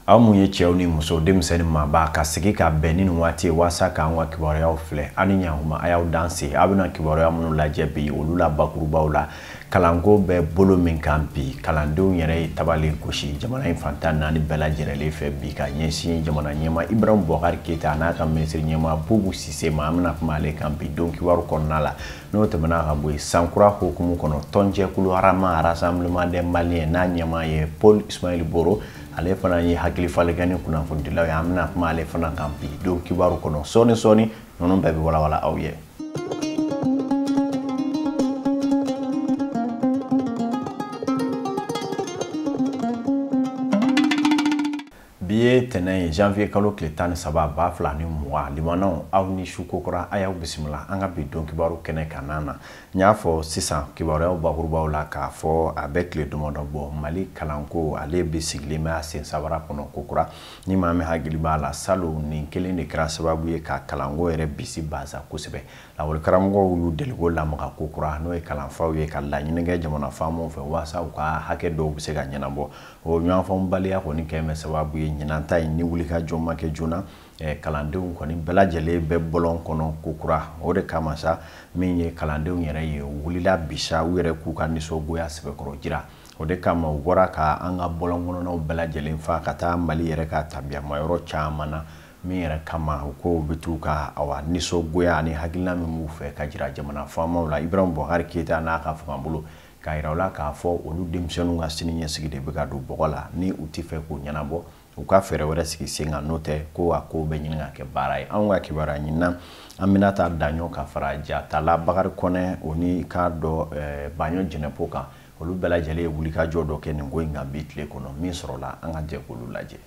aw mun ye cɛw ni muso denmisɛn ni maaba ka sigi ka bɛn ni nin waati ye waasa k'an ka kibaruyaw filɛ aw ni ɲankuma a y'aw danse aw bɛna kibaruya minnu lajɛ bi olu la bakurubaw la kalanko bɛ bolo min kan bi kalandenw yɛrɛ ye tabali gosi jamana in fan tan naani bɛɛ lajɛrɛlen fɛ bi ka ɲɛsin jamana ɲɛmaa ibrahim bubakari keyita n'a ka minisiri ɲɛmaa bubu sise ma an bɛna kuma ale kan bi don kibaru kɔnɔna la n'o tɛmɛna ka bɔ yen sankura hukumu kɔnɔ tɔnjɛkulu rama rassemblement des maliens n'a ɲɛmaa ye paul ismaël boro ale fana ye hakili falen kɛ ni kunnafonidilaw ye an bɛna kuma ale fana kan bi don kibaru kɔnɔ sɔɔni sɔɔni ninnu bɛɛ bɛ walawala aw ye bi ye tɛnɛn ye janvier kalo tile tan ni saba ba fila ni mugan limanaw aw ni su kokura a y'aw bisimila an ka bi don kibaru kɛnɛ kan i n'a n y'a fɔ sisan kibaruyaw bakurubaw la k'a fɔ a bɛ tile damadɔ bɔ mali kalanko ale bɛ sigilen bɛ a sen sabara kɔnɔ kokura ni maa min hakili b'a la salon nin kelen de kɛra sababu ye ka kalanko yɛrɛ bisibasa kosɛbɛ lakɔlikaramɔgɔw y'u deliko lamaga ko kura n'o ye kalanfaw ye ka laɲini kɛ jamana faamaw fɛ waasa u ka hakɛ dɔw bɛ se ka ɲɛnabɔ o ɲɔgɔnfaamubaliya kɔni kɛlen bɛ sababu ye ɲinan ta in ni wulikajɔ ma kɛ joona eh, kalandenw kɔni bɛɛ lajɛlen bɛ bɔlɔn kɔnɔ ko kura o de kama sa min ye kalandenw yɛrɛ ye u wulila bi sa u yɛrɛ k'u ka nisɔngoya sɛbɛkɔrɔ jira o de kama u bɔra ka an ka bɔlɔn kɔnɔnaw bɛɛ lajɛlen fa ka taa mali yɛrɛ ka tabiyamayɔrɔ caman na min yɛrɛ kama u k'u bɛ t'u ka awa nisɔngoya ani hakilina min b'u fɛ ka jira jamana faamaw la ibrahim bubakari keyita n'a ka fangabolo k'a yira u la k'a fɔ olu denmisɛnninw ka siniɲɛsigi de bɛ ka don bɔgɔ la ni u tɛ fɛ k'o ɲɛnabɔ u ka fɛɛrɛ wɛrɛ sigi sen kan n'o tɛ ko a kow bɛ ɲini ka kɛ baara ye anw ka kibaruya ɲinina binta daɲɔ ka fara jatala bakari kɔnɛ o ni k'a dɔ eh, baɲɔ jɛnɛpo kan olu bɛɛ lajɛlen ye wulikajɔ dɔ kɛ nin ko in kan bi tile kɔnɔ min sɔrɔla an ka jɛ k'olu lajɛ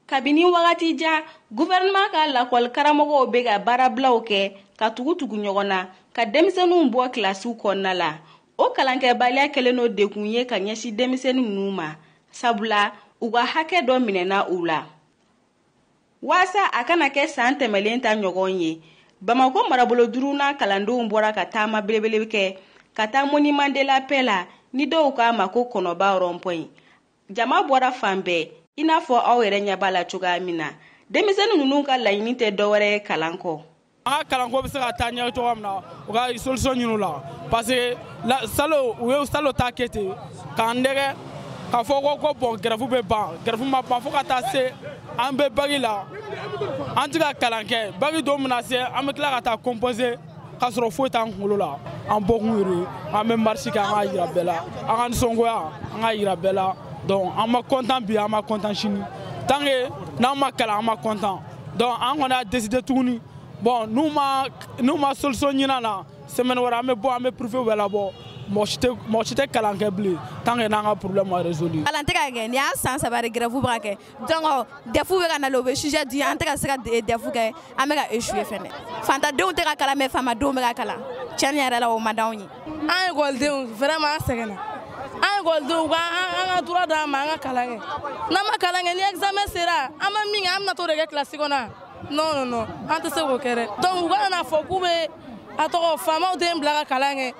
kabini wagati jan guvɛrɛnɛman ka lakɔli karamɔgɔw bɛ ka baarabilaw kɛ ka tugu-tugu ɲɔgɔn na ka denmisɛnninw bɔ kilasiw kɔnɔna la o kalankɛbaliya kɛlen don degun ye ka ɲɛsin denmisɛnnin ninnu ma sabula u ka hakɛ dɔ minɛna u la waasa a kana kɛ san tɛmɛlen ta ɲɔgɔn ye bamakɔ marabolo duurunan kalandenw bɔra ka taama belebele kɛ ka taa monument de la paix la ni dɔw k'a ma ko kɔnɔba rond-point jama bɔra fan bɛɛ i n'a fɔ aw yɛrɛ ɲɛ b'a la cogoya min na denmisɛnnin ninnu ka laɲini tɛ dɔwɛrɛ ye kalan kɔ an ka kalanko bɛ se ka taa ɲɛ cogoya min na u ka solution ɲini o la parce que salon u ye salon ta kɛ ten k'an nɛgɛn k'a fɔ ko bɔn gɛrɛfu bɛ ban gɛrɛfu ma ban fo ka taa se an bɛ bagi la an tɛ ka kalan kɛ bagi don mana se an bɛ tila ka taa composer k'a sɔrɔ foyi t'an kunkolo la an bɔkun yɛrɛ an bɛ marisi kɛ an k'a yira bɛɛ la an ka nisɔngoya an k'a yira bɛɛ la donc an ma kɔntan bi an ma kɔntan sini tant que n'an ma kalan an ma kɔntan donc an kɔni y'a décider tuguni bon n'u ma solution ɲin'an na semaine wɛrɛ an bɛ bɔ an bɛ privé bɛɛ labɔ mɔgɔ si tɛ kalan kɛ bilen tant que n'an ka problème ma résolu. kalan tɛ ka kɛ nin y'a san saba de grève bɛ ka kɛ donc dɛfu bɛ ka na de u bɛ sujet di an tɛ ka se ka dɛfu kɛ an bɛ ka échouer fɛnɛ fantadenw tɛ ka kalan mais faamadenw bɛ ka kalan tiɲɛni yɛrɛ la o man d'anw ye. an ekɔlidenw vraiment an sɛgɛnna an ekɔlidenw u ka an ka droit d'an ma an ka kalan kɛ n'an ma kalan kɛ ni examen sera an ma min kɛ an bɛna t'o de kɛ kilasi kɔnɔ non non non an tɛ se k'o kɛ dɛ donc u kana n'a fɔ k'u bɛ a tɔgɔ faamaw denw bila ka kalan kɛ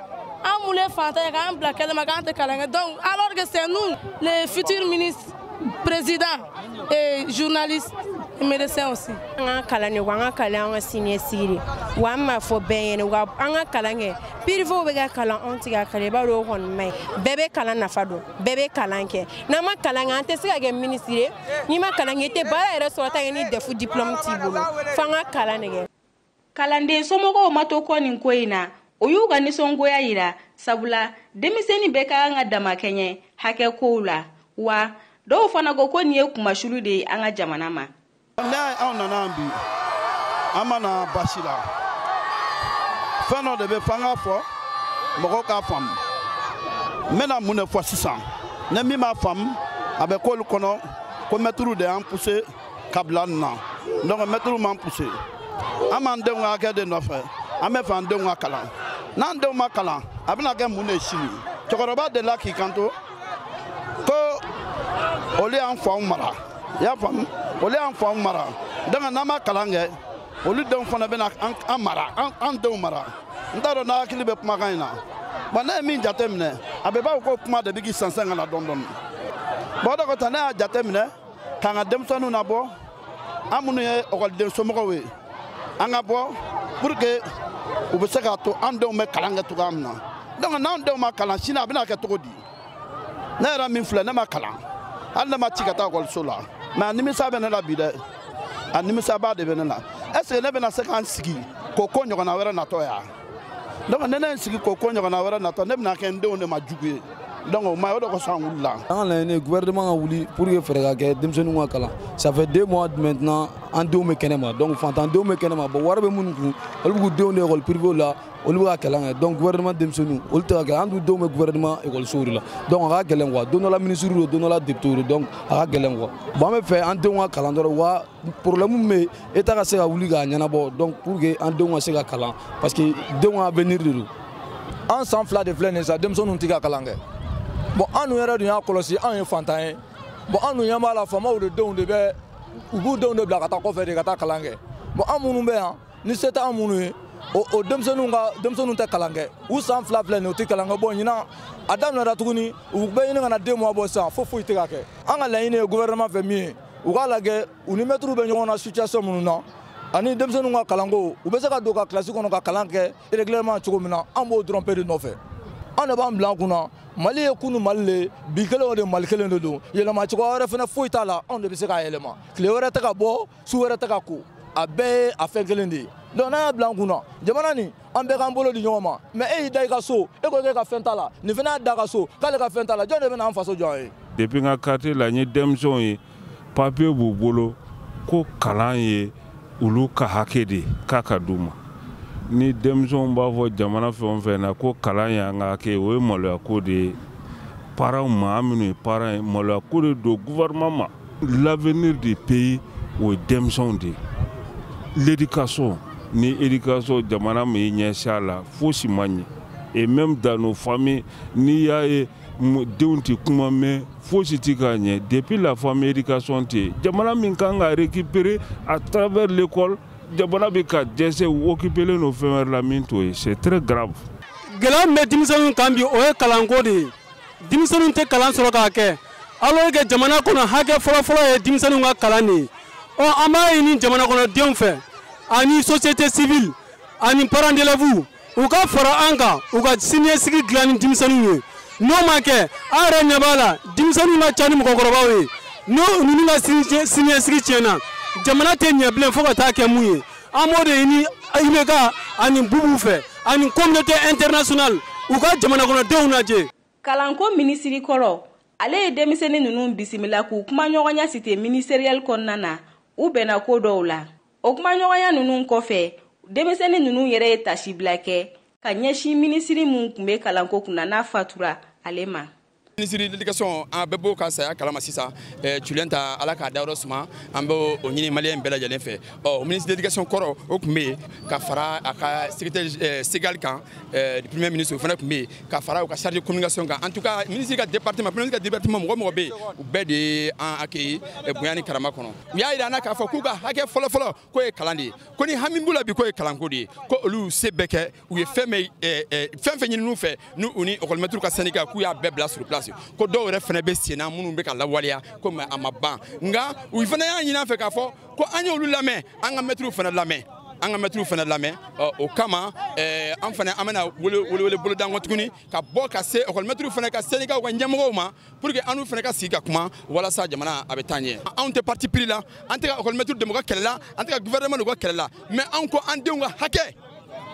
an min ye fantan ye k'an bila kɛnɛma k'an tɛ kalan kɛ donc alors que c'est nous les futurs ministres présidents Et journaliste et médecin aussi. An ka kalan de ko an ka kalan an ka siniɲɛsigi de wa an m'a fɔ bɛɛ ɲɛna wa an ka kalan kɛ pirivew bɛ ka kalan anw tɛ ka kalan i b'a dɔn o kɔni man ɲi bɛɛ bɛ kalan nafa dɔn bɛɛ bɛ kalan kɛ n'an ma kalan kɛ an tɛ se ka kɛ minisiri ye n'i ma kalan kɛ i tɛ baara yɛrɛ sɔrɔ tant que ni dɛfu diplɔmu t'i bolo f'an ka kalan de kɛ. kalanden somɔgɔw ma to kɔ nin ko in na u y'u ka nisɔngoya yira sabula denmisɛnni bɛɛ ka kan ka damakɛɲɛ hakɛ kow la wa dɔw fana ko ko nin ye kunmasuli de ye an ka jamana ma walayi anw nana yan bi an ma na basi la fɛn dɔ de bɛ fɔ an k'a fɔ mɔgɔw k'a faamu n bɛna mun de fɔ sisan ni min m'a faamu a bɛ k'olu kɔnɔ ko mɛtiriw de y'an puse ka bila nin na donc mɛtiriw m'an puse an b'an denw ka hakɛ de nɔfɛ an b'a fɛ an denw ka kalan n'an denw ma kalan a bɛna kɛ mun de ye sini cɛkɔrɔba delila k'i kanto ko olu y'an faw mara i y'a faamu olu y'an faw mara donc n'an ma kalan kɛ olu denw fana bɛna an mara an denw mara n t'a dɔn n'a hakili bɛ kumakan in na bɔn ne ye min jate minɛ a bɛ b'a fɔ ko kuma de bɛ k'i sɛnsɛn ka na dɔɔni dɔɔni bɔn o de kosɔn ne y'a jate minɛ k'an ka denmisɛnninw nabɔ an minnu ye ɔkɔliden somɔgɔw ye an ka bɔ pour que u bɛ se k'a to an denw bɛ kalan kɛ cogoya min na donc n'an denw ma kalan sini a bɛna kɛ cogo di ne yɛrɛ min filɛ ne ma kalan hali ne ma ci ka taa ekɔliso la mais a nimisa bɛ ne la bi dɛ a nimisaba de bɛ ne la est ce que ne bɛna se ka n sigi k'o ko ɲɔgɔnna wɛrɛ natɔ yan donc ni ne ye n sigi k'o ko ɲɔgɔnna wɛrɛ natɔ ne bɛna kɛ n denw de ma jugu ye donc o ma ye o de kosɔn an wulila an ka laɲini ye gouvernement ka wuli pour que fɛɛrɛ ka kɛ denmisɛnninw ka kalan ça fait deux mois maintenant an denw bɛ kɛnɛ ma donc fantandenw bɛ kɛnɛ ma bon wari bɛ minnu kun olu b'u denw de école privée la olu bɛ ka kalan kɛ donc gouvernement denmisɛnninw olu tɛ ka kɛ an dun denw bɛ gouvernement école de la donc a ka gɛlɛn quoi don dɔ la ministre don don dɔ la député don donc a ka gɛlɛn quoi bon an b'a fɛ an denw ka kalan dɔrɔn wa problème min bɛ État ka se ka wuli k'a ɲɛnabɔ donc pour que an denw ka se ka kalan parce que denw ka avenir de don an san fila de filɛ nin ye sa denmisɛnninw tɛ ka kalan kɛ bon an dun yɛrɛ dun y'a kɔlɔsi anw ye fantan ye bon an dun ɲɛ b'a la faamaw de denw de bɛ u b'u denw de bila ka taa kɔfɛ de ka taa kalan kɛ bon an minnu bɛ yan ni se t'an minnu ye o o denmisɛnninw ka denmisɛnninw tɛ kalan kɛ u san fila filɛ nin ye u tɛ kalan kɛ bon ɲinan a daminɛra tuguni u bɛ ɲini ka na deux mois bɔ sisan fo foyi tɛ ka kɛ an ka laɲini ye gouvernement fɛ min ye u k'a lajɛ u ni mɛtiriw bɛ ɲɔgɔn na situation minnu na ani denmisɛnninw ka kalanko u bɛ se ka don ka kilasi kɔnɔ ka kalan kɛ régulièrement cogo min na an b'o dɔrɔn pe de nɔfɛ an de b'a bila an kun na mali ye kunu mali le bi kelen o de mali kelen de don yɛlɛma cogoya wɛrɛ fana foyi t'a la anw de bɛ se k'a yɛlɛma tile wɛrɛ tɛ ka bɔ su wɛrɛ tɛ ka ko a bɛɛ ye a fɛn kelen de ye donc n'an y'a bila an kun na jamana nin an bɛɛ k'an bolo di ɲɔgɔn ma mais e y'i da i ka so e ko k'e ka fɛn t'a la nin fana y'a da a ka so k'ale ka fɛn t'a la jɔn de bɛna an faso jɔ an ye depuis n ka quartier la n ye denmisɛnw ye papiye b'u bolo ko kalan ye olu ka hakɛ de k'a ka d'u ma ni denmisɛnw b'a fɔ jamana fɛn o fɛn na ko kalan y'an ka hakɛ ye o ye maloya ko de ye parents ma an minnu ye parents ye maloya ko de don gouvernement ma L'avenir du pays o ye denmisɛnw de ye. L'éducation ni éducation jamana m'i ɲɛsin a la fosi ma ɲɛ et même dans nos familles n'i y'a ye denw tɛ kuma mɛn fosi tɛ ka ɲɛ depuis la famille éducation tɛ yen jamana min kan ka récupérer à travers l'école jamana bɛ ka dɛsɛ u occupelen don fɛn wɛrɛ la min t'o ye c'est très grave. Gɛlɛya min bɛ denmisɛnninw kan bi o ye kalanko de ye. denmisɛnninw tɛ kalan sɔrɔ k'a kɛ alors que jamana kɔnɔ hakɛ fɔlɔfɔlɔ ye denmisɛnninw ka kalan de ye ɔ an b'a ɲini jamanakɔnɔdenw fɛ ani société civile ani parents d'élèves u ka fara an kan u ka siniɲɛsigi dilan ni denmisɛnninw ye n'o ma kɛ an yɛrɛ ɲɛ b'a la denmisɛnninw ka ca ni mɔgɔkɔrɔbaw ye n'o ninnu ka siniɲɛsigi tiɲɛna jamana tɛ ɲɛ bilen fo ka taa kɛ mun ye an b'o de ɲini IBK ani Bubu fɛ ani communauté internationale u ka jamanakɔnɔdenw lajɛ. Kalanko minisiri kɔrɔ, ale ye denmisɛnnin ninnu bisimila k'u kumaɲɔgɔnya cité ministérielle kɔnɔna na, u bɛnna ko dɔw la. O kumaɲɔgɔnya ninnu kɔfɛ, denmisɛnnin ninnu yɛrɛ ye tasibila kɛ ka ɲɛsin minisiri min tun bɛ kalanko kunna n'a fatura ale ma. minisiri de l'éducation an bɛɛ b'o ka saya kalama sisan tioulenta ala k'a dayɔrɔ suma an bɛ o ɲini maliyɛn bɛɛ lajɛlen fɛ ɔ minisiri de l'éducation kɔrɔ o tun bɛ yen ka fara a ka secrétaire segal kan premier ministre o fana tun bɛ yen ka fara u ka chargé de communication kan en tout cas minisiri ka département premier ministre ka département mɔgɔ o mɔgɔ bɛ yen u bɛɛ de ye an accueilli bonya ni karama kɔnɔ u y'a jira an na k'a fɔ k'u ka hakɛ fɔlɔfɔlɔ k'o ye kalan de ye ko ni hami b'u la bi k'o ye kalanko de ye ko olu se bɛɛ kɛ u ye fɛn o fɛn fɛn ɲinin u fɛ ni u ni ekɔlimɛtiriw ka sɛndika k'u y'a bɛɛ bila sur place ko dɔw yɛrɛ fana bɛ senna minnu bɛ ka lawaleya comme a ma ban nka u fana y'a ɲinin an fɛ k'a fɔ ko an y'olu lamɛn an ka mɛtiriw fana lamɛn an ka mɛtiriw fana lamɛn o kama an fana an bɛna welewele boloda kɔ tuguni ka bɔ ka se ekɔlimɛtiriw fana ka sɛndikaw ka ɲɛmɔgɔw ma pour que an n'u fana ka sigi ka kuma walasa jamana a bɛ taa ɲɛ anw tɛ parti pris la an tɛ ka ekɔlimɛtiriw dɛmɛ u ka kɛlɛ la an tɛ ka gouvernement dɛmɛ u ka kɛlɛ la mais anw ko an denw ka hakɛ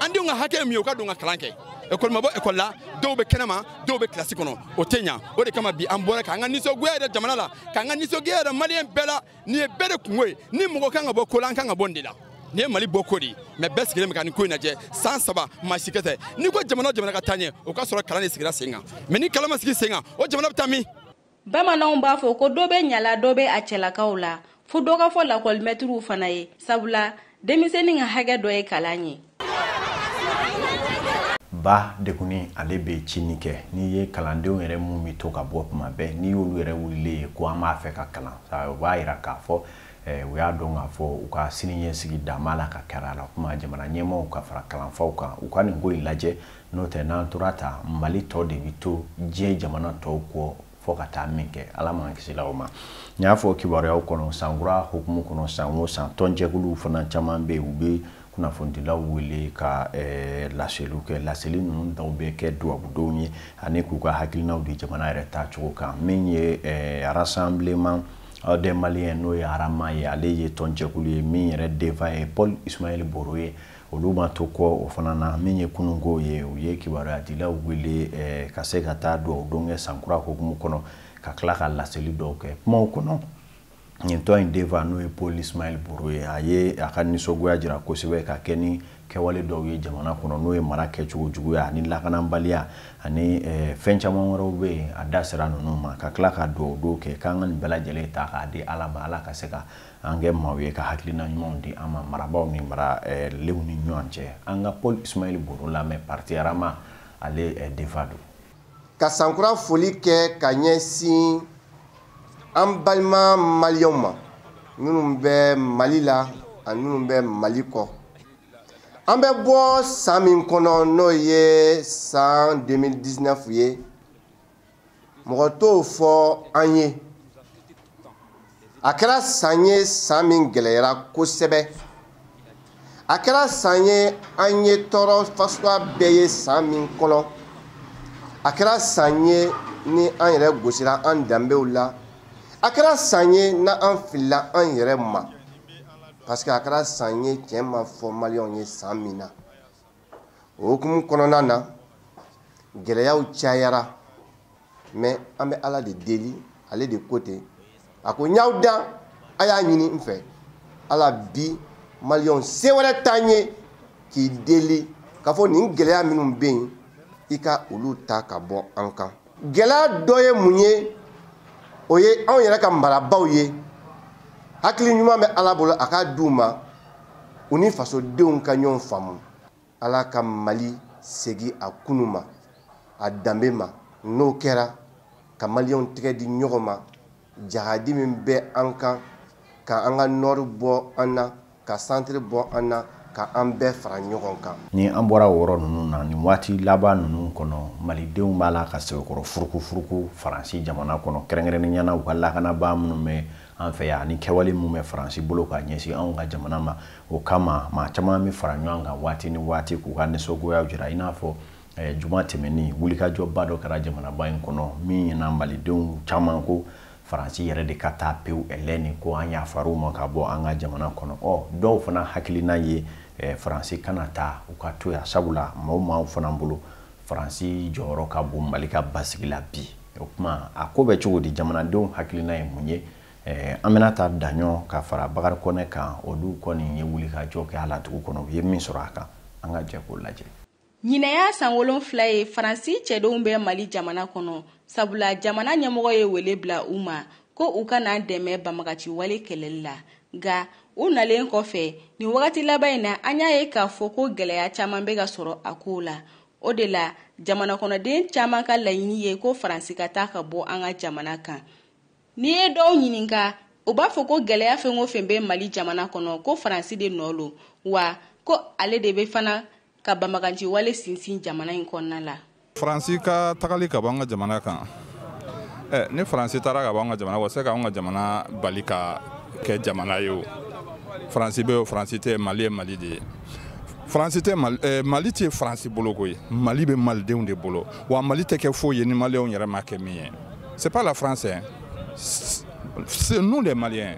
an denw ka hakɛ ye min ye u ka don ka kalan kɛ école ma bɔ école la dɔw bɛ kɛnɛ ma dɔw bɛ kilasi kɔnɔ o tɛ ɲa o de kama bi an bɔra k'an ka nisɔngoya yira jamana la k'an ka nisɔngoya yira maliyɛn bɛɛ la nin ye bɛɛ de kunko ye ni mɔgɔ kan ka bɔ ko la an kan ka bɔ nin de la nin ye mali bɔko de ye mais bɛɛ sigilen bɛ ka nin ko in lajɛ san saba maa si kɛ tɛ n'i ko jamana o jamana ka taa ɲɛ o ka sɔrɔ kalan de sigira sen kan mais ni kalan ma sigi sen kan o jamana bɛ taa min bamananw b'a fɔ ko dɔ bɛ ɲa la dɔ bɛ a cɛlakaw la fo dɔ ka fɔ lakɔlimɛtiriw fana ye sabula denmisɛnnin ka hakɛ dɔ ye kalan ye ba degunnen ale bɛ cini kɛ n'i ye kalandenw yɛrɛ mun bɛ to ka bɔ tuma bɛɛ n'i y'olu yɛrɛ wulilen ye ko an b'a fɛ ka kalan o b'a jira k'a fɔ eh, u y'a dɔn k'a fɔ u ka siniɲɛsigi da b'a la ka kɛra a la kuma jamana ɲɛmaaw ka fara kalanfaw kan u ka nin ko in lajɛ n'o tɛ n'an tora tan mali tɔ de bɛ to diɲɛ jamana tɔw kɔ fo ka taa min kɛ ala m'an kisila o ma n y'a fɔ kibaruyaw kɔnɔ sankura hukumu kɔnɔ san o san tɔnjɛkuluw fana caman bɛ yen u bɛ kunnafonidilaw wele ka eh, laseliw kɛ laseli ninnu dɔw bɛ kɛ dubabu don ye ani k'u ka hakilinaw di jamana yɛrɛ taacogo kan min ye eh, rassemblement euh, des maliens n'o ye arama ye ale ye tɔnjɛkulu ye min yɛrɛ denfa ye paul ismaël boro ye olu ma to kɔ o fana na min ye kununko ye u ye kibaruyadilaw wele eh, ka se ka taa dugawu don kɛ sankura hukumu kɔnɔ ka tila ka laseli dɔw kɛ kumaw kɔnɔ nin tɔn in denfa n'o ye paul ismaël boro ye a ye a ka nisɔngoya jira kosɛbɛ ka kɛɲɛ ni kɛwale dɔw ye jamana kɔnɔ n'o ye mara kɛcogo juguya ani lakananbaliya ani eh, fɛn caman wɛrɛw bɛ yen a da sera ninnu ma ka tila ka dugawu don kɛ k'an ka nin bɛɛ lajɛlen ta k'a di ala ma ala ka se ka an kɛ maaw ye ka hakilina ɲumanw di an ma marabaaw ni mara eh, lenw ni ɲɔgɔn cɛ an ka paul ismaël boro lamɛn parti arama ale eh, denfa don ka sankura foli kɛ ka ɲɛsin an balima maliyɛnw ma minnu bɛ mali la ani minnu bɛ mali kɔ an bɛ bɔ san min kɔnɔ n'o ye san 2019 ye mɔgɔ t'o fɔ an ye a kɛra san ye san min gɛlɛyara kosɛbɛ a kɛra san ye an ye tɔɔrɔ fasuguya bɛɛ ye san min kɔnɔ a kɛra san ye ni an yɛrɛ gosira an danbew la a kɛra san ye n'an filila an yɛrɛ ma parce que a kɛra san ye tiɲɛ ma fɔ maliyɛnw ye san min na o hukumu kɔnɔna na gɛlɛyaw cayara mais an bɛ ala de deli ale de ko ten a ko n y'aw dan a y'a ɲini n fɛ ala bi maliyɛnw se wɛrɛ t'an ye k'i deli k'a fɔ nin gɛlɛya minnu bɛ yen i ka olu ta ka bɔ an kan gɛlɛya dɔ ye mun ye o ye anw yɛrɛ ka marabaaw ye hakili ɲuman bɛ ala bolo a k'a di u ma u ni fasodenw ka ɲɔgɔn faamu ala ka mali segin a kunu ma a danbe ma n'o kɛra ka maliyɛnw tɛgɛ di ɲɔgɔn ma jahadi min bɛ an kan ka an ka nɔri bɔ an na ka santiri bɔ an na ka an bɛɛ fara ɲɔgɔn kan ni an bɔra o yɔrɔ ninnu na nin waati laban ninnu kɔnɔ malidenw b'a la ka sɛbɛkɔrɔ furuku furuku faransi jamana kɔnɔ kɛrɛnkɛrɛnnenya na u ka lakanabaa minnu bɛ an fɛ yan ani kɛwale min bɛ faransi bolo ka ɲɛsin anw ka jamana ma o kama maa caman bɛ fara ɲɔgɔn kan waati ni waati k'u ka nisɔngoyaw jira i n'a fɔ juma tɛmɛnen wulikajɔba dɔ kɛra jamanaba in kɔnɔ min ɲɛna malidenw caman ko faransi yɛrɛ de ka taa pewu ɛlɛn nin ko an yafar'u ma ka bɔ an ka jamana kɔnɔ ɔ dɔw fana hakilina ye faransi kana taa u ka to yan sabula maaw maaw fana bolo faransi jɔyɔrɔ ka bon mali ka basigi la bi o kuma a ko bɛ cogo di jamanadenw hakilina ye mun ye an bɛna ta daɲɔ ka fara bakari kɔnɛ kan olu kɔni ye wulikajɔ kɛ a la dugu kɔnɔ u ye min sɔrɔ a kan an ka jɛ k'o lajɛ ɲinan y'a san wolonfila ye faransi cɛdenw bɛ mali jamana kɔnɔ sabula jamana ɲɛmɔgɔ ye wele bila u ma ko u ka n'an dɛmɛ banbaganci wale kɛlɛli la nka u nalen kɔfɛ nin wagati laban in na an y'a ye k'a fɔ ko gɛlɛya caman bɛ ka sɔrɔ a ko la o de la jamana kɔnɔden caman ka laɲini ye ko faransi ka taa ka bɔ an ka jamana kan n'i ye dɔw ɲininka u b'a fɔ ko gɛlɛya fɛn o fɛn bɛ mali jamana kɔnɔ ko faransi de nɔ lo wa ko ale de bɛ fana ka banbaganci wale sinsin jamana in kɔnɔna la faransi ka tagali ka bɔ an ka jamana kan eh, ni faransi taara ka bɔ an ka jamana wa se ka an ka jamana bali ka kɛ jamana ye o faransi bɛ o faransi tɛ mali ye mali de ye faransi tɛ mali, eh, mali tɛ faransi bolo koyi mali bɛ malidenw de bolo wa mali tɛ kɛ foyi ye ni maliyɛnw yɛrɛ m'a kɛ min ye c'est pas la France hein. c'est nous les Maliens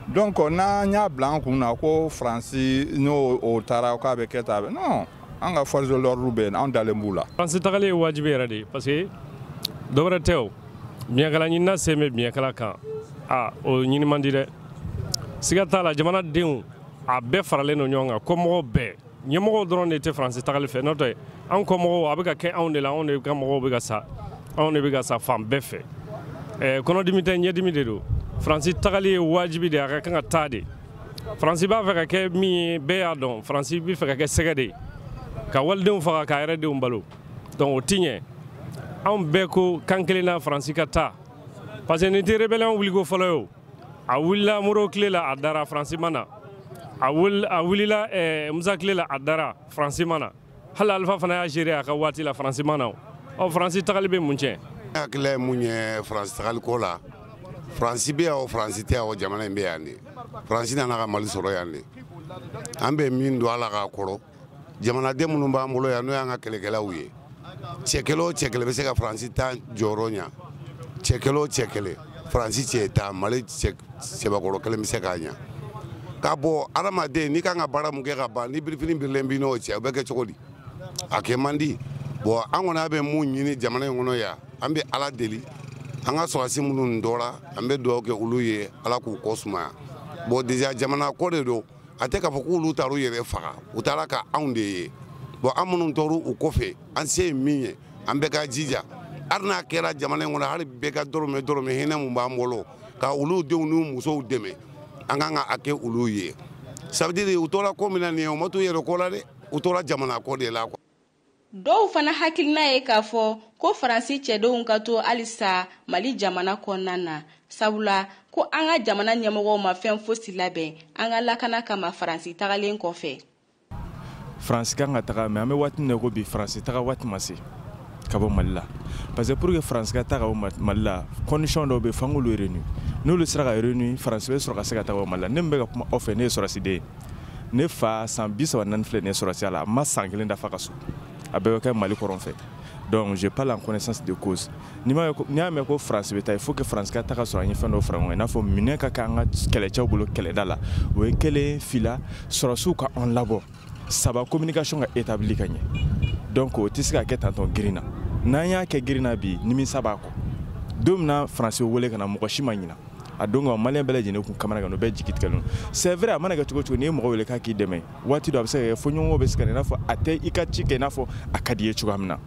donc n'an y'a bila an kun na ko faransi n'o o taara k'a bɛ kɛ tan non an ka force de l'ordre bɛ yen an dalen b'u la. faransi tagali ye wajibi yɛrɛ de ye parce que dɔ wɛrɛ tɛ o biɲɛkala ɲinina sen bɛ biɲɛkala kan a o ɲini man di dɛ siga t'a la jamanadenw a bɛɛ faralen don ɲɔgɔn kan kɔmɔgɔw bɛɛ. ɲɛmɔgɔw dɔrɔn de tɛ faransi tagali fɛ n'o tɛ anw kɔmɔgɔw a bɛ ka kɛ anw de la anw de ka mɔgɔw bɛ ka sa anw de bɛ ka sa fan bɛɛ fɛ ɛɛ kɔnɔdimi tɛ ɲɛdimi de don faransi tagali ye wajibi de a ka kan ka taa de faransi b'a fɛ ka kɛ min ye bɛɛ y'a dɔn faransi b'a fɛ ka kɛ sɛgɛ de ye ka walidenw faga k'a yɛrɛ denw balo donc o ti ɲɛ anw bɛɛ ko kan kelen na faransi ka taa parce que nin tɛ rébellion wuliko fɔlɔ ye o a wulila moro tile la a dara faransi ma na a wulila eh, musa tile la a dara faransi ma na hali alifa fana y'a gérer a ka waati la faransi ma na ɔ faransi tagali bɛ mun tiɲɛ hakilila ye mun ye faransi tagali ko la faransi bɛ yan o faransi tɛ yan o jamana in bɛ yan de faransi nana ka mali sɔrɔ yan de an bɛ min don ala k'a kɔrɔ jamanaden minnu b'an bolo yan n'o y'an ka kɛlɛkɛlaw ye cɛ kelen o cɛ kelen bɛ se ka faransi tan jɔyɔrɔ ɲa cɛ kelen o cɛ kelen faransi cɛ tan mali cɛbakɔrɔ kelen bɛ se k'a ɲa ka bɔ adamaden n'i kan ka baara mun kɛ ka ban ni birifini birilen b'i n'o cɛ o bɛ kɛ cogo di a kɛ man di bon an kɔni bɛ mun ɲini jamana in kɔnɔ yan an bɛ ala deli an ka sɔrɔdasi minnu tora an bɛ dugawu kɛ olu ye ala k'u kɔ sumaya bon déjà jamana ko de don a tɛ k'a fɔ k'olu taar'u yɛrɛ faga u taara ka anw de ye bon an minnu tora u kɔfɛ an se ye min ye an bɛɛ ka jija hali n'a kɛra jamana in kɔnɔ hali bɛɛ ka dɔrɔmɛ dɔrɔmɛ hinɛ mun b'an bolo ka olu denw n'u musow dɛmɛ an kan ka a kɛ olu ye ça veut dire u tora ko min na nin ye u ma t'u yɛrɛ ko la dɛ u tora jamana ko de la quoi dɔw fana hakilina ye k'a fɔ ko faransi cɛdenw ka to halisa mali jamana kɔnɔna na sabula ko an ka jamana ɲɛmɔgɔw ma fɛn fosi labɛn an ka lakana kama faransi tagalen kɔfɛ faransi kan ka taga mais an bɛ waati min na ko bi faransi taga waati ma se ka bɔ mali la parce que pour que faransi ka taga ka bɔ mali la condition dɔw bɛ f'an k'olu réunir n'olu sera ka réunir faransi bɛ sɔrɔ ka se ka taga bɔ mali la ne min bɛ ka kuma aw fɛ ne ye sɔrɔsiden ye ne fa san bi saba ni naani filɛ nin ye sɔrɔsiya la a ma san kelen dafa a ka so a bɛɛ bɛ kɛ mali kɔrɔn fɛ donc je parle en connaissance de cause n'i y'a mɛn ko faransi bɛ taa il faut que faransi ka taa ka sɔrɔ an ye fɛn dɔw fara ɲɔgɔn kan i n'a fɔ minɛn ka kɛ an ka kɛlɛcɛw bolo kɛlɛda la o ye kelen fila sɔrɔsiw ka an labɔ saba communication ka établi ka ɲɛ donc o tɛ se ka kɛ tan dɔrɔn girin na n'an y'a kɛ girin na bi nimisa b'a kɔ don min na faransi wele ka na mɔgɔ si ma ɲina a don kama maliyɛn bɛɛ lajɛlen kun kamanagan o bɛɛ jigi tigɛlen c'est vrai a mana kɛ cogo cogo n'i ye mɔgɔ wele k'a k'i dɛmɛ waati dɔ a bɛ se ka kɛ fo ɲɔgɔn bɛ se ka i n'a fɔ a tɛ i ka ci kɛ i n'a fɔ a ka di i ye cogoya min na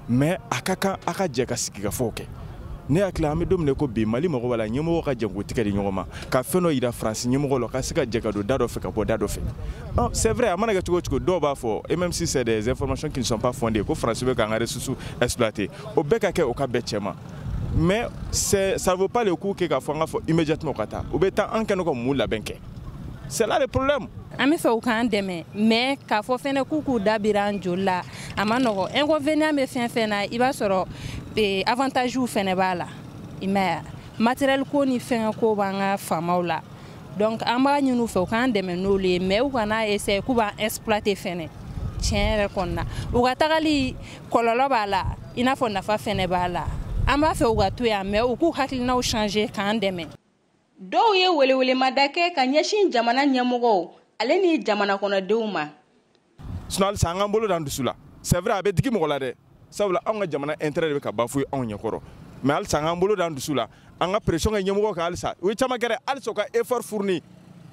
mais a ka kan a ka jɛ ka sigikafɔw kɛ ne hakili an bɛ don min ko bi mali mɔgɔ b'a la ɲɛmɔgɔ ka jɛ k'u tigɛ di ɲɔgɔn ma ka fɛn dɔ yira faransi ɲɛmɔgɔ la ka se ka jɛ ka don da dɔ fɛ ka bɔ da dɔ fɛ ah, c'est vrai a mana kɛ cogo cogo dɔw b'a fɔ et même si c'est des informations qui ne sont pas fondées ko faransi bɛ k'an ka ressources exploiter o bɛɛ ka kɛ o ka bɛɛ cɛ ma mais ça ne vaut pas le coup que k'a fɔ an k'a fɔ immédiatement u ka taa u bɛ taa an kɛnɛ ka mun labɛn kɛ c'est là le problème an b'a fɛ u k'an dɛmɛ mais k'a fɔ fɛnɛ k'u k'u da bira an joli la a ma nɔgɔ inconvénient bɛ fɛn fɛn na i b'a sɔrɔ eh, avantagew fɛnɛ b'a la i m'a ye matériel ko ni fɛngɛ ko b'an ka faamaw la donc an b'a ɲini u fɛ u k'an dɛmɛ n'olu ye mais u kana essayer k'u b'an exploiter fɛnɛ tiɲɛ yɛrɛ kɔni na u ka tagali kɔlɔlɔ b'a la i n'a fɔ nafa fɛnɛ b'a la an b'a fɛ u ka to yan mais u k'u hakilinaw changer k'an dɛmɛ dɔw ye welewelemada kɛ ka ɲɛsin jamana ɲɛmɔgɔw ale ni jamana kɔnɔdenw ma sinon halisa an k'an bolo d'an dusu la c'est vrai a bɛ digi mɔgɔ la dɛ sabula anw ka jamana intérêt de bɛ ka bafouer anw ɲɛkɔrɔ mais halisa an k'an bolo d'an dusu la an ka pression kɛ ɲɛmɔgɔ kan halisa u ye caman kɛ dɛ halisa u ka effort fournir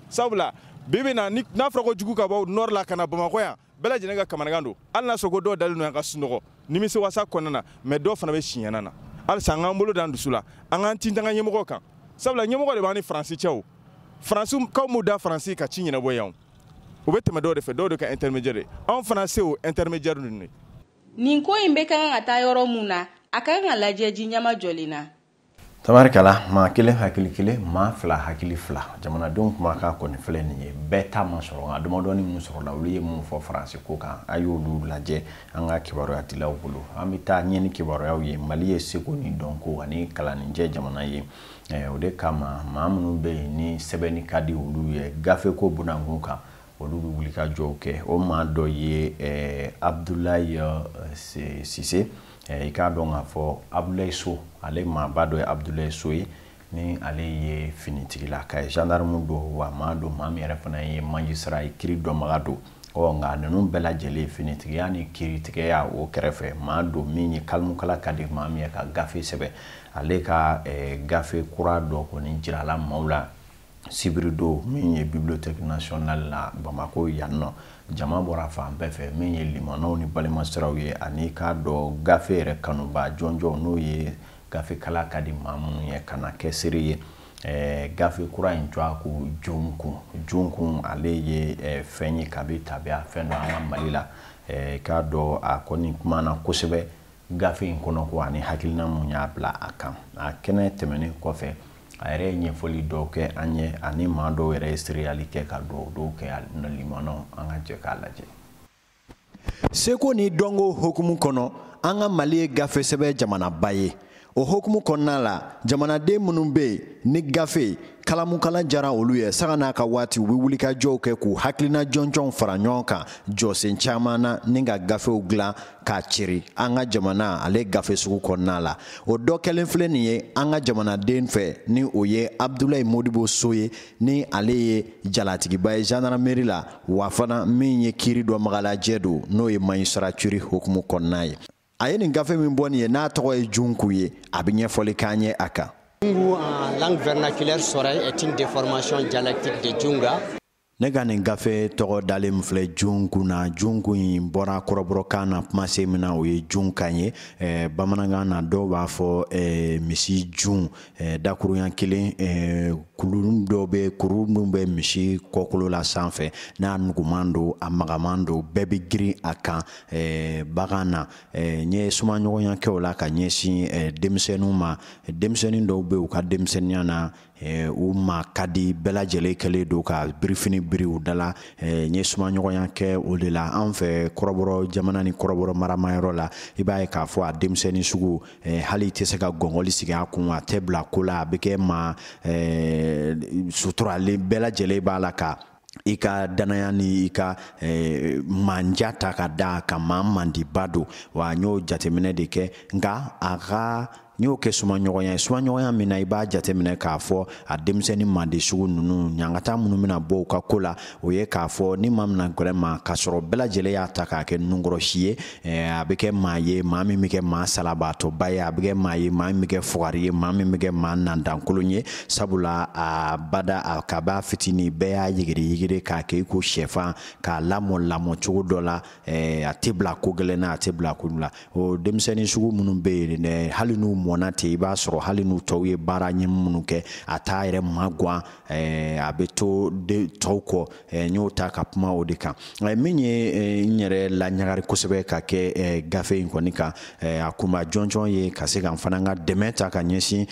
sabula bi bi na n'a fɔra ko jugu ka bɔ nord la ka na bamakɔ yan bɛɛ lajɛlen ka kamanagan don hali n'a sɔrɔ ko dɔw dalen don yan ka sunɔgɔ nimisiwasa kɔnɔna na mais dɔw fana bɛ siɲɛna na halisa an k'an bolo d'an dusu la an k'an tintin an ka ɲɛmɔgɔ kan sabula ɲɛmɔgɔ de b'an ni faransi cɛ faransikaw m'u da faransi ka ci ɲɛnabɔ yan u bɛ tɛmɛ dɔw de fɛ dɔw de ka intermédiaire anw fana se o intermédiaire ninnu ye nin ko in bɛ ka kan ka taa yɔrɔ mun na a ka kan ka lajɛ ji ɲɛmajɔlen na tabarikala maa kelen hakili kelen maa fila hakili fila jamanadenw kumakan kɔni filɛ nin ye bɛɛ ta ma sɔrɔ nka damadɔni minnu sɔrɔla olu ye mun fɔ faransi ko kan a y'olu lajɛ an ka kibaruyadilaw bolo an bɛ taa ɲɛ ni kibaruyaw ye mali ye seko ni dɔnko ani kalannijɛ jamana ye eh, o de kama maa minnu bɛ yen ni sɛbɛnni ka di olu ye gafeko bunankun kan olu bɛ wulikajɔw kɛ o maa dɔ ye eh, abdulayi eh, sise i k'a dɔn k'a fɔ abdulayi so ale maaba dɔ ye abdulayi so ye ni ale ye finitigila ka ye gendarme don wa maa don maa min yɛrɛ fana ye magistrat ye kiri dɔnbaga don ɔ nka ninnu bɛɛ lajɛlen finitigiya ni kiritigɛya o kɛrɛfɛ maa don min ye kalimukala ka di maa min ye ka gafe sɛbɛn ale ka eh, gafe kura dɔ kɔni jirala maaw la sibiridon min ye bibliothèque nationale la bamako yan nɔ jama bɔra fan bɛɛ fɛ min ye limanaw ni balimasiraw ye ani k'a dɔ gafe yɛrɛ kanuba jɔnjɔn n'o ye gafe kalan ka di maa minnu ye ka na kɛ seere ye eh, gafe kura in jɔ ko jonkun jonkun ale ye eh, fɛn ye kabi tabiya fɛn don an ka mali la eh, k'a dɔn a kɔni kumana kosɛbɛ gafe in kɔnɔ ko ani hakilina mun y'a bila a kan a kɛnɛ tɛmɛnen kɔfɛ a yɛrɛ ye ɲɛfɔli dɔw kɛ an ye ani maa dɔw yɛrɛ ye sereyali kɛ ka dɔw dɔw kɛ a limanaw an ka jɛ k'a lajɛ seko ni dɔnko hokumu kɔnɔ an ka mali ye gafe sɛbɛn jamanaba ye o hokumu kɔnɔna la jamanaden minnu bɛ yen ni gafe kalamukala jara olu ye sanga n'a ka waati u bɛ wulikajɔw kɛ k'u hakilina jɔnjɔnw fara ɲɔgɔn kan jɔsen caman na ni ka gafew dilan k'a ceri an ka jamana ale gafe sugu kɔnɔna la o dɔ kɛlen filɛ nin ye an ka jamanaden fɛ ni o ye abdulayi modibo so ye ni ale ye jalatigiba ye zandarameri la wa fana min ye kiiri dɔnbagalajɛ don n'o ye magistrature hokumu kɔnɔna ye a ye nin gafe min bɔ nin ye n'a tɔgɔ ye junku ye a bɛ ɲɛfɔli k'an ye a kan Jungu en langue vernaculaire Sonraï est une déformation dialectique de Junga. ne ka nin gafe tɔgɔ dalen filɛ junku na junku in bɔra kɔrɔbɔrɔkan na kumasen min na o ye junga ye eh, bamanankan na dɔw b'a fɔ eh, misi jun eh, dakuruɲa kelen eh, kuru dɔw bɛ kuru minnu bɛ misi kɔkolo la sanfɛ n'a nuguman don a magaman don bɛɛ bɛ girin a kan eh, bagan na eh, n ye sumaɲɔgɔnya kɛ o la ka ɲɛsin eh, denmisɛnninw ma denmisɛnnin dɔw bɛ u ka denmisɛnninya na Eh, u ma ka di bɛɛ lajɛlen kɛlen don ka birifini biri u da la eh, n ye sumaɲɔgɔnya kɛ o de la an fɛ kɔrɔbɔrɔ jamana ni kɔrɔbɔrɔ maramayɔrɔ la i b'a ye k'a fɔ a denmisɛnnin sugu eh, hali i tɛ se ka gɔngɔli sigi a kun a tɛ bila ko la a bɛ kɛ maa suturalen bɛɛ lajɛlen b'a la ka i ka danaya ni i ka eh, manja ta ka da ka maa mandiba don wa n y'o jateminɛ de kɛ nka a ka n y'o kɛ sumaɲɔgɔnya ye sumaɲɔgɔnya min na i b'a jateminɛ k'a fɔ a denmisɛnnin mandi sugu ninnu ɲangata minnu bɛna bɔ u ka ko la o ye k'a fɔ ni maa mina gɛrɛ ma k'a sɔrɔ bɛɛ lajɛlen y'a ta k'a kɛ nunkɔrɔsi ye Eh, a bɛ kɛ maa ye maa min bɛ kɛ maa salabaatɔba ye a bɛ kɛ maa ye maa min bɛ kɛ fugari ye maa min bɛ kɛ maa nandankolon ye sabula a bada kab'a fitinin bɛɛ y'a yigiri yigiri k'a kɛ i ko sɛfan k'a lamɔ lamɔ cogo dɔ la eh, a tɛ bila ko gɛlɛn na a tɛ bila ko la o denmisɛnnin sugu minnu bɛ yen dɛ hali n'u mɔna ten i b'a sɔrɔ hali n'u tɔw ye baara ɲɛ minnu kɛ a t'a yɛrɛ magwan Eh, a bɛ to de tɔw kɔ eh, n y'o ta ka kuma o de kan eh, min ye n yɛrɛ laɲagari kosɛbɛ ka kɛ gafe in kɔni kan a kunba jɔnjɔn ye ka se ka n fana ka dɛmɛ ta ka ɲɛsin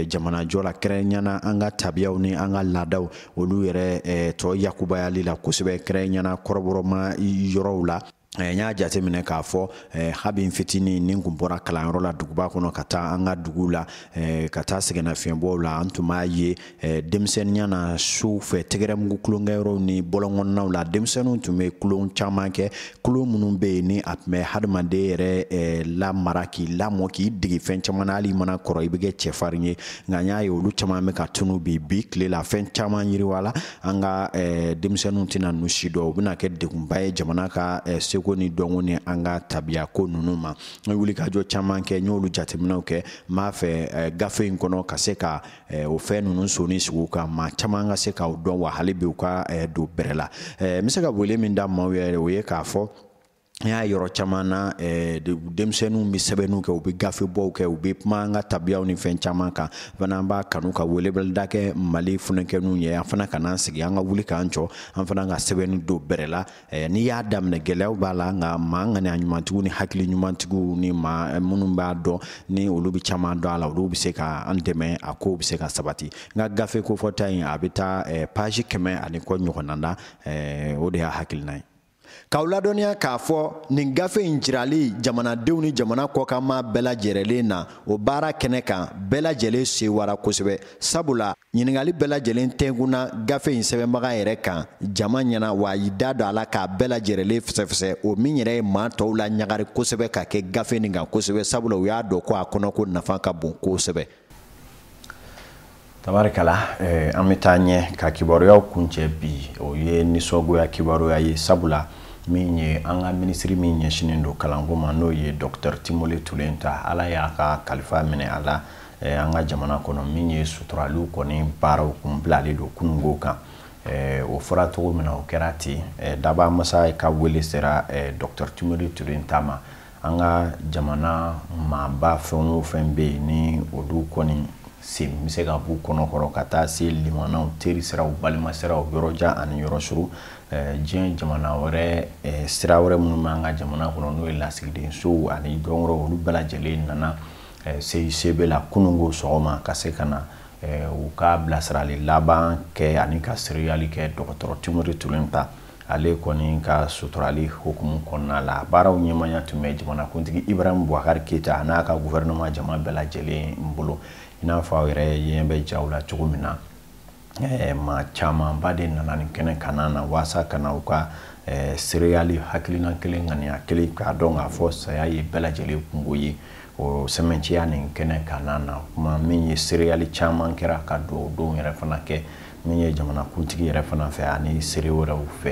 jamanajɔ la kɛrɛnkɛrɛnyana an ka tabiyaw ni an ka laadaw olu yɛrɛ tɔ yakubayali la kosɛbɛ kɛrɛnkɛrɛnyana kɔrɔbɔrɔma yɔrɔw la Eh, n y'a jateminɛ k'a fɔ eh, habi fitini ni kun bɔra kalanyɔrɔ la duguba kɔnɔ ka taa an ka duguw la eh, ka taa sɛgɛnnafiɲɛbɔw la an tun b'a ye denmisɛnninya na su fɛ tɛgɛrɛmugu tulonkɛyɔrɔw ni bɔlɔnkɔnɔnaw la denmisɛnninw tun bɛ tulon caman kɛ tulon minnu bɛ yen ni a tun bɛ hadamaden yɛrɛ lamara k'i lamɔ k'i dege fɛn caman na hali i mana kɔrɔ i bɛ kɛ cɛfarin ye nka n y'a ye olu caman bɛ ka tunu bi bi tile la fɛn caman yiriwa la an ka eh, denmisɛnninw tɛna ninnu si dɔn o bɛna kɛ degunba ye jamana ka eh, seko ni dɔnko ni an ka tabiya ko ninnu ma n ye wulikajɔ caman kɛ n y'olu jateminɛw kɛ n b'a fɛ eh, gafe in kɔnɔ ka se ka o fɛn ninnu soni sigi u kan maa caman ka se k'u dɔn wa hali bi u ka don bɛrɛ la n bɛ se ka wele min da maaw yɛrɛ o ye k'a fɔ an y'a ye yɔrɔ caman na eh, denmisɛnninw bɛ sɛbɛnniw kɛ u bɛ gafebɔw kɛ u bɛ kuma an ka tabiyaw ni fɛn caman kan fana an b'a kanu ka weleweleda kɛ Mali funukɛninw ye an fana kan'an sigi an ka wuli k'an jɔ an fana ka sɛbɛnni don bɛrɛ la eh, n'i y'a daminɛ gɛlɛyaw b'a la nka maa ŋaniya ɲumantigiw ni hakili ɲumantigiw ni maa eh, minnu b'a dɔn ni olu bɛ caman dɔn a la olu bɛ se ka an dɛmɛ a kow bɛ se ka sabati n ka gafe kofɔta in a bɛ taa paji kɛmɛ ani kɔ ɲɔgɔnna na o de y'a hakilina ye k'aw ladɔnniya k'a fɔ nin gafe in jirali jamanadenw ni jamana kɔkan maa bɛɛ lajɛrɛlen na o baara kɛnɛ kan bɛɛ lajɛlen sewara kosɛbɛ sabula ɲiningali bɛɛ lajɛlen tɛnkunna gafe in sɛbɛnbaga yɛrɛ kan jama ɲɛna wa a y'i da don a la k'a bɛɛ lajɛrɛlen fɛsɛfɛsɛ o min yɛrɛ ye maa tɔw laɲagari kosɛbɛ ka kɛ gafe nin kan kosɛbɛ sabula u y'a dɔn ko a kɔnɔko nafa ka bon kosɛbɛ tabarikala eh, an bɛ taa ɲɛ ka kibaruyaw kuncɛ bi o ye nisɔngoya kibaruya ye sabula min ye an ka minisiri min ɲɛsinnen don kalanko ma n'o ye dɔktɛr Timore Tulenta Ala y'a ka kalifa minɛ a la eh, an ka jamana kɔnɔ min ye suturaliw kɔni baaraw kun bilalen don kununko kan eh, o fɔra cogo min na o kɛra ten eh, dabaa masa ka wele sera eh, dɔktɛr Timore Tulenta ma an ka jamana maaba fɛn o fɛn bɛ yen ni olu kɔni sen bɛ se ka b'u kɔnɔ kɔrɔ ka taa se limanaw teri siraw balima siraw yɔrɔ jan ani yɔrɔ suru eh, diɲɛ jamana wɛrɛ eh, sira wɛrɛ minnu b'an ka jamana kɔnɔ n'o ye lasigidensow ani dɔ wɛrɛw olu bɛɛ lajɛlen nana eh, CICB la kununko sɔgɔma ka se ka na u ka bilasirali laban kɛ ani ka seereyali kɛ dɔgɔtɔrɔ Timore Tulenta ale kɔni ka suturali hukumu kɔnɔna la baaraw ɲɛmaya tun bɛ jamanakuntigi Ibrahim Bubakari Keyita a n'a ka guvɛrɛnɛma jama bɛɛ lajɛlen bolo i n'a fɔ aw yɛrɛ ɲɛ bɛ jaw la cogo min na eh, maa camanba de nana nin kɛnɛ kanna na waasa ka na u ka eh, seereyali hakilina kelen ŋaniya kelen k'a dɔn k'a fɔ saya ye bɛɛ lajɛlen kunko ye o sɛmɛnciya nin kɛnɛ kanna na kuma min ye seereyali caman kɛra ka dugawudonw yɛrɛ fana kɛ min ye jamana kuntigi yɛrɛ fana fɛ ani seere wɛrɛw fɛ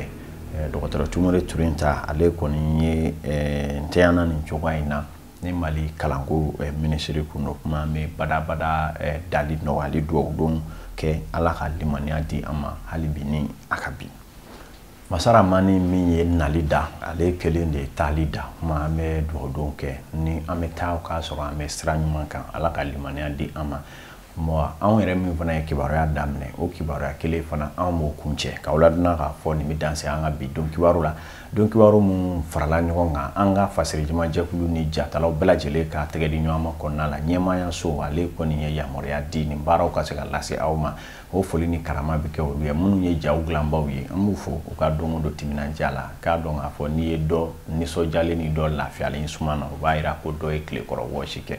eh, dɔgɔtɔrɔ timore tulenta ale kɔni ye eh, ntɛyana nin cogoya in na ni mali kalanko eh, minisiri kun don kuma bɛ badabada dali nɔgɔyali duwawu don kɛ ala ka limaniya di an ma hali bi ni a ka bi masa ramani min ye nali da ale kelen de ye taali da kuma an bɛ dugawu don kɛ ni an bɛ taa k'a sɔrɔ an bɛ sira ɲuman kan ala ka limaniya di an ma anw yɛrɛ min fana ye kibaruya daminɛ o kibaruya kelen fana anw b'o kuncɛ k'aw ladɔnniya k'a fɔ nin bɛ dan se an ka bi don kibaru la don kibaru minnu farala ɲɔgɔn kan an ka fasiri jama jɛkulu ni jatalaw bɛɛ lajɛlen ka tɛgɛ di ɲɔgɔn ma kɔnɔna la ɲɛmaayaso ale kɔni ye yamaruya di nin baaraw ka se ka lase aw ma o foli ni karama bɛ kɛ olu ye minnu ye jaw dilanbaw ye an b'u fo u ka don o don timinandiya la k'a dɔn k'a fɔ n'i ye dɔ nisɔndiyalen ni dɔ lafiyalen suma na o b'a jira ko dɔ ye tile kɔrɔ wɔsi kɛ